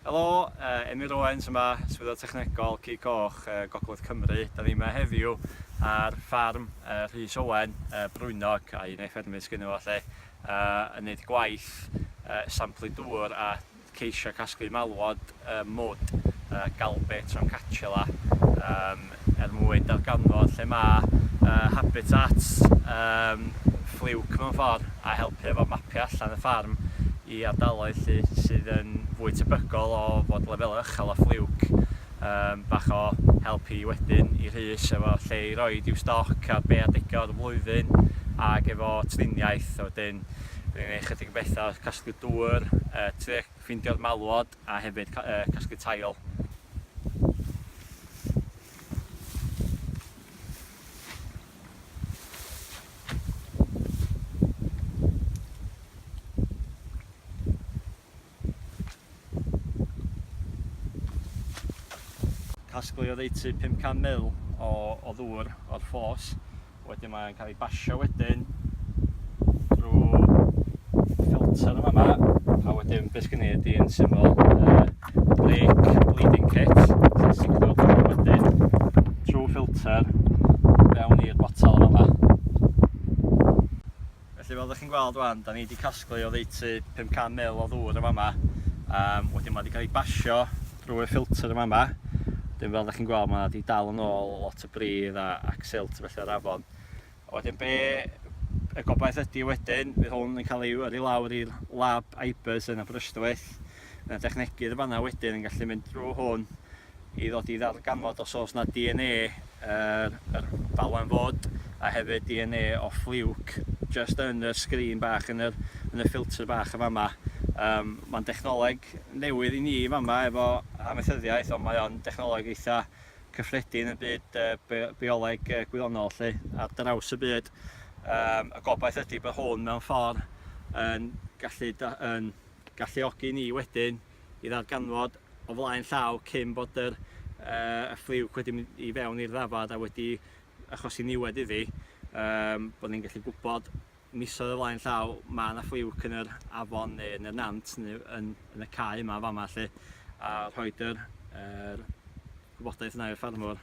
Helo, Emyr Owens yma, Swyddog Technegol Cig Coch Gogledd Cymru. Da ni yma heddiw ar ffarm Rhys Owen, Brwynog, a un o'i ffermydd sgynno fo lle, yn neud gwaith samplu dŵr a ceisio casglu malwod mwd galbe troncacella er mwyn darganfod lle mae habitats ffliwc mewn ffordd a helpu efo mapio allan y ffarm i ardaloedd lle sydd yn fwy tebygol o fod lefelau uchel o ffliwc, bach o help i wedyn i Rhys efo lle i roed i'w stoc ar be adega o'r flwyddyn ac efo triniaeth a wedyn Dwi'n gwneud chydig o bethau casglu dŵr, trio ffeindio'r malwod. a hefyd casglu tail. Casglu oddeutu 500 mil o ddŵr o'r ffos. Wedyn mae'n cael ei basio wedyn drwy filter yn yma. A wedyn beth gen i ydy yn syml uh, brake bleeding kit, sy'n signo drwy wedyn trwy filter fewn i'r botol yn yma. Felly fel dych chi'n gweld wan, da ni wedi casglu oddeutu 500 mil o ddŵr yn fama. Um, wedyn mae wedi cael ei basio drwy'r ffilter yn fama. Wedyn fel dych chi'n gweld mae wedi dal yn ôl lot o bridd a, ac silt felly o'r afon. A wedyn be y gobaith ydy wedyn, fydd hwn yn cael ei yrru lawr i'r lab IBERS yn Aberystwyth. Mae yna dechnegydd yn fanna wedyn yn gallu mynd drwy hwn i ddod i ddarganfod os oes 'na DNA yr yr falwen fod a hefyd DNA o Fluke jyst yn y sgrin bach yn yr yn y ffilter bach yn fama. Yym ma'n dechnoleg newydd i ni yn fama efo amaethyddiaeth ond mae o'n dechnoleg eitha cyffredin yn byd yy bi- bioleg yy gwyddonol 'lly ar draws y byd. Yym y gobaith ydi bod hwn mewn ffordd yn gallu da- yn galluogi ni wedyn i ddarganfod o flaen llaw cyn bod yr yy ffliwc wedi mynd i fewn i'r ddafad a wedi achosi niwed iddi, yym bod ni'n gallu gwybod misoedd o flaen llaw ma' 'na ffliwc yn yr afon neu yn y nant neu yn yn y cae yma yn fama 'lly a rhoid yr yr gwybodaeth 'na i'r ffarmwr.